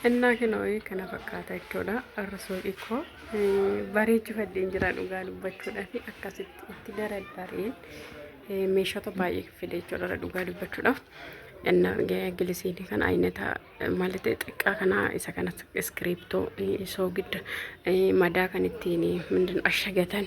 Innaa kana wayii kana fakkaata jechuudha. Har'a suuqii koo bareechifadheen jira dhugaa dubbachuudhaaf akkasitti itti daraddareen meeshota baay'ee fide jechuudha irra dhugaa dubbachuudhaaf. Inna gilisiinii kana aynata maalite xiqqaa kana isa kana iskiriiptoo soogidda madaa kan ittiin mindin ashagatan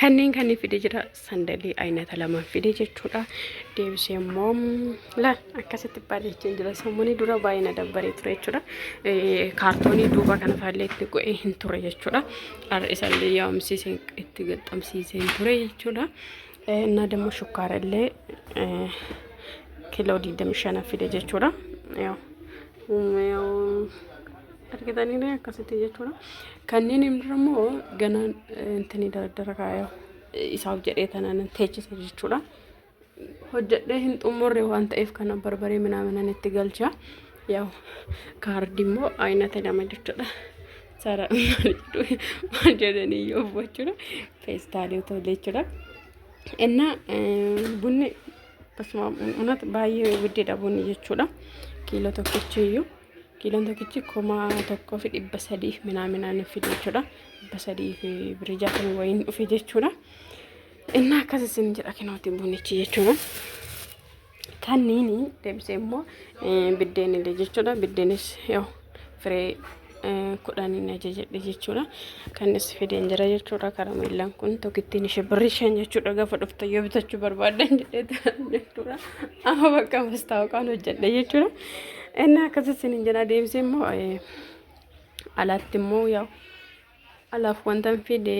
Kanneen kanneen fide jira sandalii aynata lamaan fide jechuudha. Deebisee immoo la akkasitti baadhachaa jira. Sammuunii dura baay'ee na dabbaree ture jechuudha. Kaartoonii duuba kana faallee itti go'ee hin ture jechuudha. Har'isallee yaa'umsiiseen itti gaxxamsiiseen ture jechuudha. Innaa damma shukkaarallee kiiloo 25 fide jechuudha. Yaa'u. argitaniiree akkasitti jechuudha. Kanneen immoo immoo ganaan intini dardara kaaya isaaf jedhee tanaan teechise jechuudha. Hojjedhee hin xumurre waan ta'eef kana barbaree minaaminan itti galcha. Yaw kaardi immoo aynata lama jechuudha. Sara maal jedhanii yoo jechuudha. Feestaalii otoo jechuudha. Inna bunni basuma unat baay'ee guddee dhabuun jechuudha. Kiiloo tokkichi iyyuu. Kiiloon tokkichi kuma tokkoo fi dhibba sadii minaaminaa nuuf fide jechuudha. Dhibba sadii fi birii jaatamii wayiin dhufe jechuudha. Innaa akkas isin jedha kinooti bunichi jechuudha. Kanniini deebisee immoo biddeenillee jechuudha. Biddeenis yoo firee kudhaniin ajajadhe jechuudha. Kannis fideen jira jechuudha. Karameellaan kun tokkittiin ishee birrii shan jechuudha. Gaafa dhufte yoo bitachuu barbaaddan jedhee jechuudha. Amma bakka mastaawaqaan hojjedhe jechuudha. Inni akkasii isin hin jedha deebisee immoo alatti immoo yaa alaaf wanta hin fide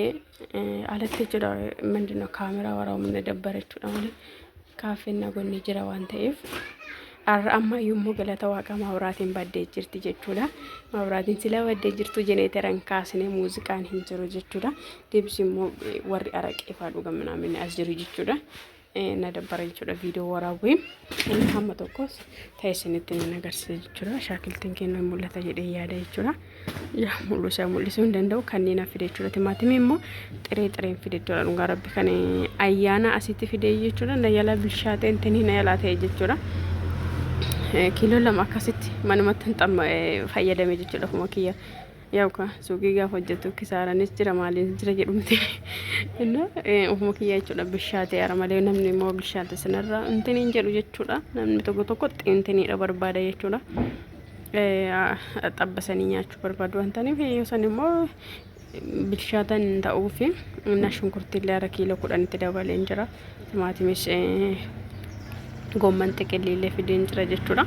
alatti jechuudha mindina kaameraa waraabamne dabbara jechuudha malee kaaffeen nagoonni jira waan ta'eef har'a amma yommuu galata waaqa maawuraatiin baddee jirti jechuudha maawuraatiin sila baddee jirtu jeneeteran kaasnee muuziqaan hin jiru jechuudha deebisee immoo warri araqeefaa dhugaminaa minni as jiru jechuudha. na dabbara jechuudha viidiyoo waraabuu inni hamma tokkos ta'e isinitti nan agarsiisa jechuudha shaakiltiin keenya hin mul'ata jedhee yaada jechuudha yaa mul'isa mul'isuu hin danda'u kanneen hafe jechuudha timaatimii immoo xiree xireen fide jechuudha dhugaa rabbi kan ayyaana asitti fide jechuudha na yala bilchaatee intinii na yalaa ta'e jechuudha. kiiloo lama akkasitti manumatti hin fayyadame jechuudha kuma kiyya Yawka suuqii gaafa hojjettu kisaaranis jira maaliinis jira jedhumti. Inna ofuma kiyyaa jechuudha bishaatee ara malee namni immoo bishaate sanarra intin hin jedhu jechuudha. Namni tokko tokko xiintiniidha barbaada jechuudha. Xabbasanii nyaachuu barbaadu waan ta'aniif yoo san immoo bilchaatan ta'uufi inna shunkurtii illee ara kiiloo kudhanitti dabaleen jira. timaatimish gomman xiqilli illee fideen jira jechuudha.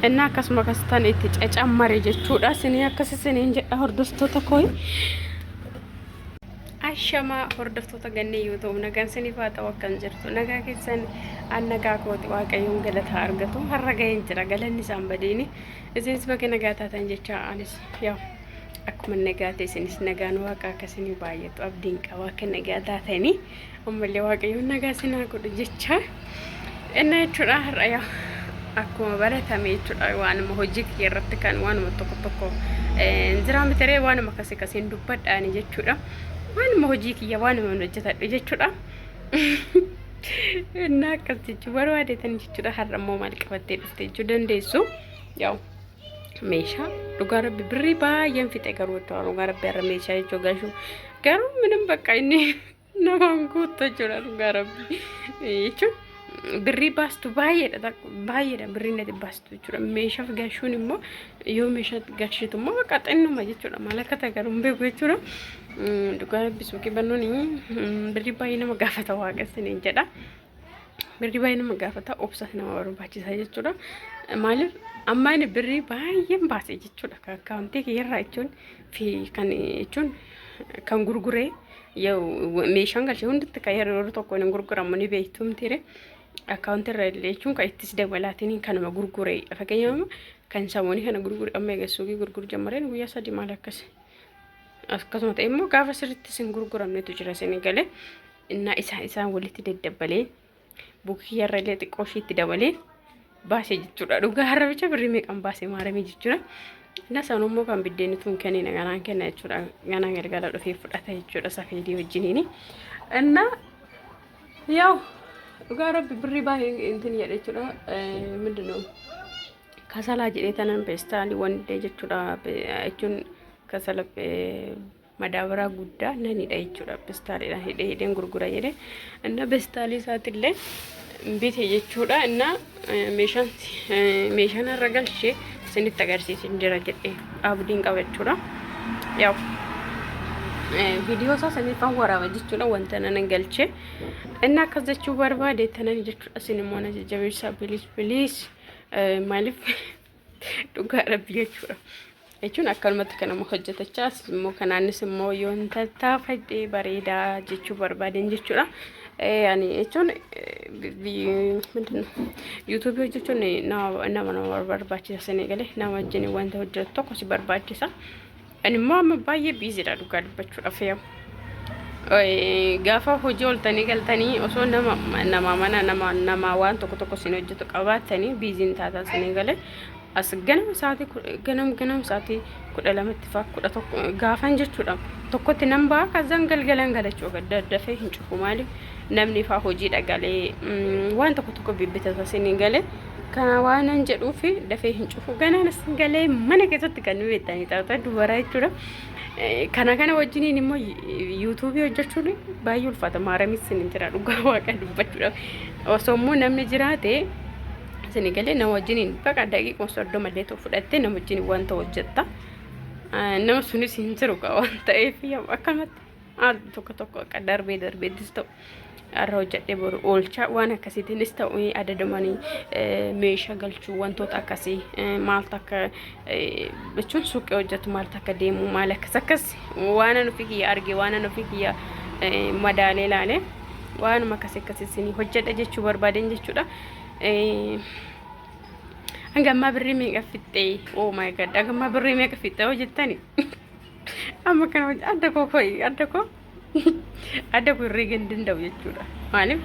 Inni akkasuma akkasitan itti cacammare jechuudha. Sinii akkas isiniin jedha hordoftoota koi. Ashamaa hordoftoota gannee yoo ta'u nagaan siniif haa ta'u akkan jirtu nagaa keessan an nagaa kooti waaqayyoon galataa argatu har'a ga'een jira galanni isaan badiini isinis baga nagaa taatan jecha anis yaa akkuma nagaa ta'e isinis nagaan waaqa akkasini baay'atu abdiin qaba akka nagaa taatanii Ammallee waaqayyoon nagaa isin haa godhu jechaa. Innaa jechuudha har'a yaa akkuma baratame jechuudha waanuma hojii kiyya irratti kan waanuma tokko tokko eh, jiraa mitiree waanuma akkasii akkasiin dubbadhaani jechuudha. Waanuma hojii kiyya waanuma hin hojjetadhu jechuudha. Innaa akkas jechuu barbaadeetan jechuudha har'a immoo maal qabattee dhufte jechuu dandeessu. Yaa'u meeshaa dhugaa rabbi birrii baay'een fixe garuu jechuudha dhugaa rabbi har'a meeshaa jechuu gashuu garuu minim bakka inni Namaan guutta jechuudha dhugaa rabbi. Jechuun birrii baastu baay'eedha baay'eedha birrii nati baastu jechuudha. Meeshaaf galchuun immoo yoo meeshaa galchitu immoo bakka xinnuma jechuudha. Maal akka ta'e garuu hin beeku jechuudha. Dhugaa rabbi suuqii bannuun birrii baay'ee nama gaafata waaqessin hin jedha. Birrii baay'ee nama gaafata obsas nama barbaachisa jechuudha. Maaliif amma inni birrii baay'een baase jechuudha. Akkaawuntii kiyyarraa jechuun fi kan jechuun kan gurguree meeshaan galchee hundatti kan yeroo tokko hin gurguramu ni beektumtiire akkaawunti irra illee jechuun kan ittis dabalaatiin kanuma gurguree fakkeenyaaf kan samoonii kana gurgure amma eegassuuqii gurguru jammareen guyyaa sadii maal akkas akkasuma ta'e immoo gaafa sirriitti isin gurguramnetu jira isin galee innaa isaan isaan walitti daddabbalee Bukiyyarra illee xiqqoo ishiitti dabalee baase jechuudha. Dhugaa harrabicha birrii meeqan baase maaramii jechuudha. Inna san immoo kan biddeen tun kennina ganaan kenna jechuudha. Ganaa galgala dhufee fudhata jechuudha safeedii wajjiniini. Inna yaw dhugaa rabbi birrii baay'ee intin jedhe jechuudha. Mindinoo kasalaa jedhee tanan peestaalii wandee jechuudha jechuun kasala madaabaraa guddaa nan hidha jechuudha. Bestaaliidhaan hidhee hidheen gurgura jedhee inna bestaalii isaatiillee bite jechuudha. Inna meeshaan meeshaan har'a galchee isinitti agarsiisin jira jedhee abdiin qaba jechuudha. Yaa'u viidiyoo isaa saniifaan waraaba jechuudha wanta nan galchee inna akkas jechuu barbaade tanan jechuudha. Isin immoo na jajjabeessaa biliis biliis maaliif dhugaa rabbi jechuudha jechuun akkanumatti kanama hojjetachaa as immoo kanaanis immoo yoon tattaafadhe bareedaa jechuu barbaadeen jechuudha ani jechuun yuutuubii hojjechuun nama nama barbaachisa sanii galee nama wajjin wanta hojjetu tokko si barbaachisa. Ani immoo amma baay'ee biizidha dhugaa dubbachuudhaaf yoo. Gaafa hojii ooltanii galtanii osoo nama nama mana nama nama waan tokko tokko isin hojjetu qabaattanii biiziin taataa isinii galee as ganama sa'aatii ku- ganam ganam sa'aatii kudha lamatti faa kudha tokko gaafan jechuudha tokkotti nan ba'a kazzaan galgalan galachuu gadda dafee hin cufu maaliif namni faa hojiidha galee mm, waan tokko tokko bibbitata isinii galee Kana waanan jedhuuf dafee hin cufu. Ganaan as galee mana keessatti kan nu beektanii taata dubara jechuudha. Kana kana wajjiniin immoo yuutuubii hojjechuun baay'ee ulfaata. Maaramis sin jira dhugaa waaqa dubbachuudhaaf. Osoo immoo namni jiraate isin galee nama wajjiniin baqa daqiiquma soddoma illee ta'u fudhattee nama wajjiniin wanta hojjetta. Nama sunis hin jiru waan ta'eef akkamatti al tokko tokko akka darbee darbeettis ta'u. har'a hojjedhee boru oolchaa waan akkasiitiinis ta'u adadamanii meeshaa galchuu wantoota akkasii maal takka jechuun suuqii hojjetu maal takka deemu maal akkas akkas waan an ofii kiyya arge waan an ofii kiyya madaalee laale waanuma akkasii akkasii isin hojjedha jechuu barbaadeen jechuudha. Hanga ammaa birrii meeqa fixxee? Oh my god! Hanga ammaa birrii meeqa fixxee hojjettani? Amma kana adda koo koi adda koo. adda kun herreega hin danda'u jechuudha. Maaliif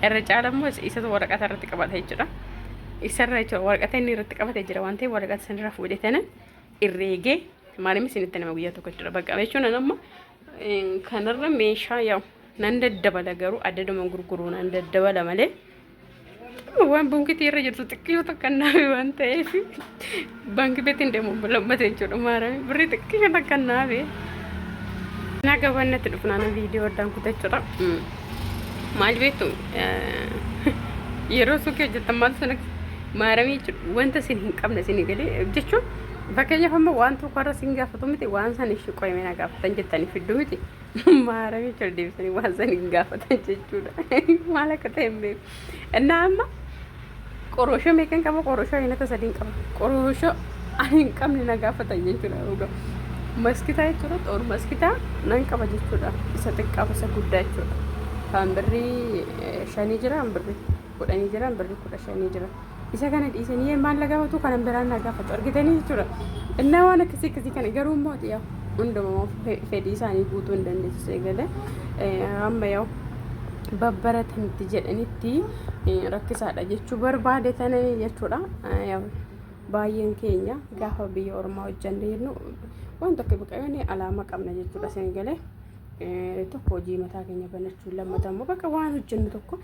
irra caala immoo isatu waraqata irratti qabata jechuudha. Isarra jechuudha waraqata inni irratti qabate jira waan ta'eef waraqata sanirra fuudhetanan irreegee maaliif isinitti nama guyyaa tokko jechuudha. Bakka jechuun amma kanarra meeshaa yaa'u nan daddabala garuu addaduma gurguruu nan daddabala malee Waan bunkitii irra jirtu xiqqoo takka naafi waan ta'eef baanki beetiin deemu lammata jechuudha maarame birrii xiqqoo takka naafi. Naa gabaan natti dhufnaana viidiyoo addaan kutachuudha. Maal beektu yeroo suuqii hojjetan maal sun maaramii jechuudha wanta isin hin qabne isin galee jechuun fakkeenyaaf amma waan tokko irra isin gaafatu miti waan san ishii qoyimina gaafatan jettanii fiddu miti. Maaramii jechuudha deebisanii waan san hin gaafatan jechuudha. Maal akka ta'e hin beeku. Innaa amma qorooshoo meeqan qaba qorooshoo ayinata sadiin qaba. Qorooshoo ani hin qabne na gaafatan jechuudha dhugaa. Maskitaa jechuudha xoor maskitaa nan qaba jechuudha. Isa xiqqaaf isa guddaa jechuudha. Kan birrii eh, shanii jira kan birrii. godhanii jiran birri kudha shanii jira isa kana dhiisanii yee maal lagaafatu kanan biraan naa gaafatu argitanii jechuudha innaa waan akkasii akkasii kana garuu immoo yaa hundumaa fedhii isaanii guutuu hin dandeessu eegalee amma yoo babbaratanitti jedhanitti rakkisaadha jechuu barbaade tana jechuudha baay'een keenya gaafa biyya ormaa hojjanne jennu waan tokko biqilanii alaama qabna jechuudha seengalee tokko hojii mataa keenya banachuu lammata immoo bakka waan hojjennu tokko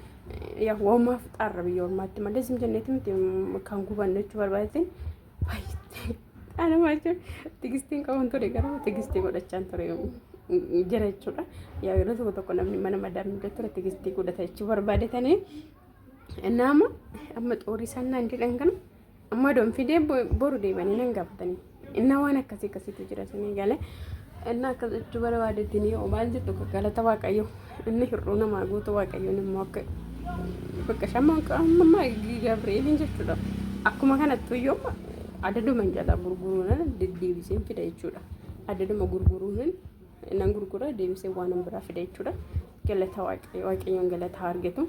yaa woomaaf xaarra biyya ormaatti malee isin jenneetti miti kan gubanne jechuu barbaadeetiin baay'ee anuma jechuun tigistiin qabuun ture garuu tigistii godhachaan ture jira jechuudha. Yaa yeroo tokko tokko namni mana madaamni ture tigistii godhata jechuu barbaadetanii nama amma xoorii sannaan jedhan kana. Amma don fidee boru deebanii nan gaafatanii. Innaa waan akkasii akkasiitu jira sanii galee. Innaa akkas jechuu barbaadetti ni hoo maal jettu galata waaqayyo. Inni hir'uu namaa guutuu waaqayyoon immoo akka bakka shamma amma Gabri'eeliin jechuudha. Akkuma kanattu iyyuu adaduma jalaa gurguruun deddeebiseen fida jechuudha. Adaduma gurguruun nan gurgura deebisee waan biraa fida jechuudha. Galata waaqayyoon galata argatu.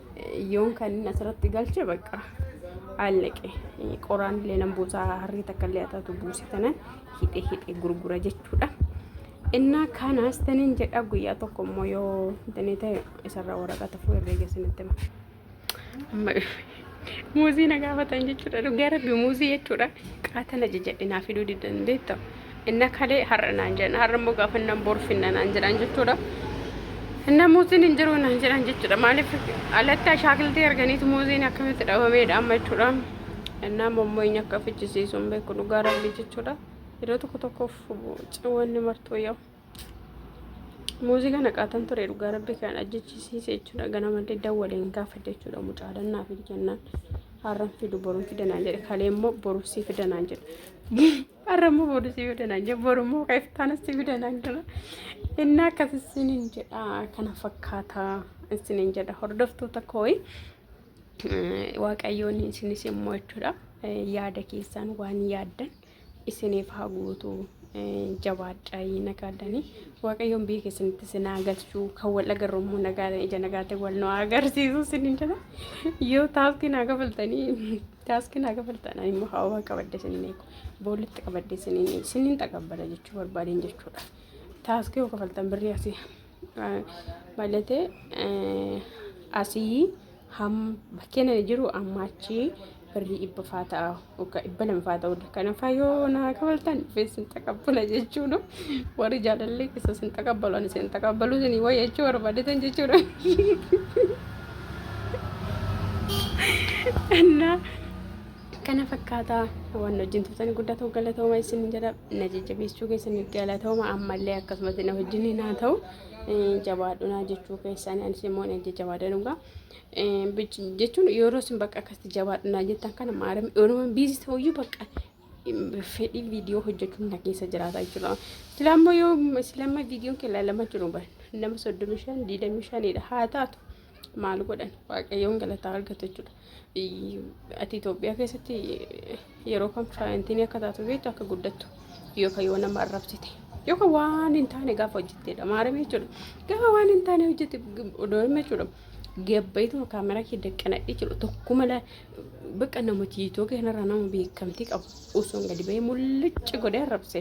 Yoon kan inni asirratti galche bakka al naqe qoraan illee nan buusaa harrii takka illee ataatu buuse tanan hidhe hidhe gurgura jechuudha. Innaa kanas tanin jedha guyyaa tokko immoo yoo danee ta'e isarraa waraqata fuu irree geessanitti hima. Amma muuzii na gaafatan jechuudha. Dhugaa rabbi muuzii jechuudha. Qaatana jajadhe naa fiduu didan beektaa. Inna kalee har'a naan jedhan har'a immoo gaafa nan bor finna naan jedhan jechuudha. Finna muuziin hin jiru naan jedhan jechuudha. Maaliif alatti ashaakiltii arganiitu muuziin akkamitti dhabameedha amma jechuudha. Innaa immoo inni akka fichisiisu hin beeku dhugaa rabbi jechuudha. Yeroo tokko tokkoof ciwanni martuu yoo. Muuzii kana qaatan ture dhugaa rabbi kan ajjechiisiise jechuudha. Ganamallee dawwaleen gaafa jechuudha mucaadhaan naaf jennaan har'an fidu boruun fidanaan jedhe kalee immoo boruusii fidanaan jedhe. Har'a immoo boru si fida naan jedha. Boru immoo keeftaana si fida naan jedha. Inni akkas isiniin jedha kana fakkaata isiniin jedha hordoftoota kooyi. Waaqayyoon isinis immoo jechuudha yaada keessaan waan yaaddan isiniif haa guutu jabaadhaa nagaadhanii waaqayyoon biyya keessanitti isin haa galchuu kan wal agarru immoo nagaa ija nagaatiin wal nu haa agarsiisu isiniin jedha yoo taastiin haa kafaltanii Taaskii naa kafaltan ani immoo haawaa qabadde sinin eegu boollitti qabadde sinin sinin xaqabbala jechuu barbaadeen jechuudha. Taaskii yoo kafaltan birrii asii malatee asii ham bakkeen ani jiru amma achii birrii dhibba faa ta'a yookaan dhibba lama faa ta'uu danda'a. Kanaafaa yoo naa kafaltan dhufee sin xaqabbala jechuudha. Warri jaalallee keessa sin xaqabbalu ani sin xaqabbalu sinii wayya jechuu barbaadetan jechuudha. Annaa kana fakkaataa waan wajjin turtan guddaa ta'uu galatooma isin jedha na jajjabeessuu keessaniif galatooma ammallee akkasumas na wajjin naa ta'u jabaadhunaa jechuu keessan anis immoo na jajjabaadha dhugaa jechuun yeroo isin bakka akkasitti jabaadhunaa jettan kana maarame oroma biizii ta'uyyuu bakka fedhii viidiyoo hojjechuun na keessa jiraataa jira. Silaa immoo yoo silaa amma viidiyoon kee ilaalama jiru ban nama soddomi shan diidami shanidha haa taatu maal godhan waaqayyoon galataa argatu jechuudha. Ati Itoophiyaa keessatti yeroo kan faayintiin akka taatu beektu akka guddattu yookaan yoo nama arrabsite yookaan waan hin taane gaafa hojjetteedha maaramee jechuudha. Gaafa waan hin taane hojjette odoo hima jechuudha. Gabbayituma kaameraa kee daqqanadhe jechuudha tokkuma Bakka namatti iitoo kanarraa nama beekamtii qabu osoo gadi ba'ee mul'icci godhee arrabse.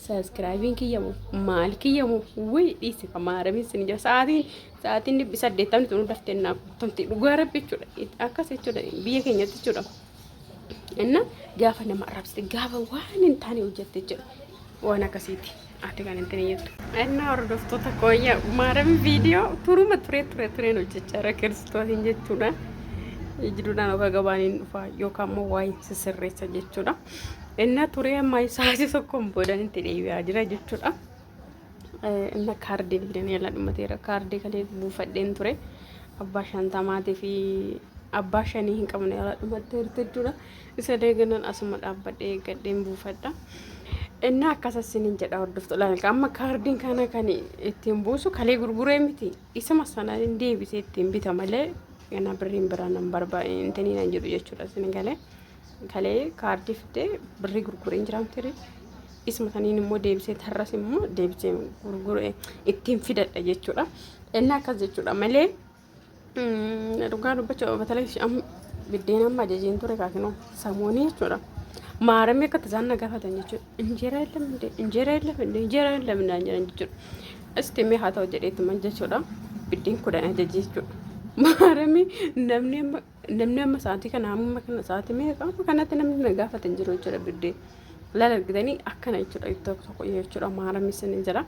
Saaskraayibiin kiyyamu maal kiyyamu wii dhiisi kan maarabiin sin jira sa'aatiin sa'aatiin dhibbi saddeettamni tunu daftee naaf guutamte dhugaa rabbi jechuudha akkas jechuudha biyya keenyatti jechuudha. Inna gaafa nama arrabsite gaafa waan hin taane hojjette jechuudha waan akkasiiti. Ati kan ittiin jettu. Ennaa hordoftoota kooyya maarami viidiyoo turuma turee turee tureen hojjechaa irra kiristootiin jechuudha. Jiduudhaan oga gabaan hin dhufa yookaan immoo waa hin sisirreessa jechuudha. Ennaa turee amma isaati tokkoon boodan itti deebi'aa jira jechuudha. Inna kaardii fidanii ala dhumateera. Kaardii kalee buufadheen ture. Abbaa shantamaatii fi abbaa shanii hin qabne ala dhumatteerti jechuudha. Isa deeganan asuma dhaabbadhee eeggadheen buufadha. Innaa akkasa isiniin jedha hordoftu ilaalka. Amma kaardiin kana kan ittiin buusu kalee gurguree miti. Isuma sana hin deebisee ittiin bita malee ganaa birriin biraa nan barbaade intanii nan jedhu jechuudha isin galee. Kalee kaardii fidee birrii gurgureen jiraamtiri. Isuma saniin immoo deebisee tarras immoo deebisee gurguree ittiin fidadha jechuudha. Innaa akkas jechuudha malee. Dhugaa dubbachuuf batalee amma biddeen amma ajajeen ture kaakinoo samoonii jechuudha. Maaramee akka tasaan na gaafatan jechuudha. Injeeraa hin lamne injeeraa hin lamne injeeraa hin lamne naan jedhan jechuudha. Isti mee haa ta'u jedheetuman jechuudha. Biddeen kudhan ajajee jechuudha. Maaramee namni amma Namni amma sa'aatii kana amma kana sa'aatii meeqa amma kanatti namni na gaafate hin jiru jechuudha biddee laal argitanii akkana jechuudha ittoo tokko jechuudha maaramni sanii jira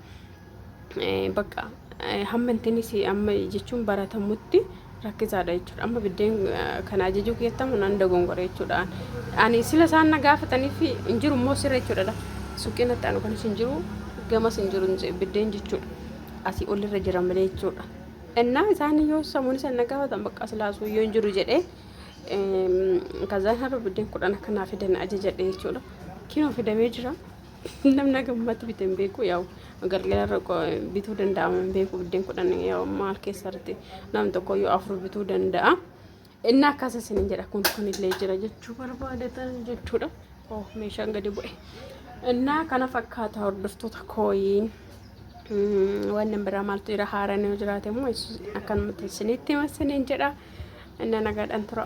bakka hamma intinis amma jechuun baratamutti rakkisaadha jechuudha amma biddeen kana ajajuu keettamu nan dogongora jechuudha ani sila isaan na gaafataniif hin jiru immoo sirra jechuudha suuqiin itti aanu kanis hin jiru gamas hin jiru biddeen jechuudha asii olirra jira malee jechuudha. Ennaa isaan yoo samuun isa na gaafatan bakka silaa suuyyoo hin jiru jedhee kazaan har'a biddeen kudhan akka naa fidan ajajadhe jechuudha. Kinoo fidamee jira. Namni gammatti bite hin beeku yaa'u galgala irra bituu danda'ama hin beeku biddeen kudhan yaa'u maal keessatti nam tokko yoo afur bituu danda'a. Inni akkas isin jedha kun kunillee jira jechuu barbaadatan jechuudha. Oh meeshaan gadi bu'e. Innaa kana fakkaata hordoftoota kooyiin waan biraa maaltu jira haaraan yoo jiraate immoo akkanumatti isinitti hima isiniin jedha. Innaa nagaadhaan tura.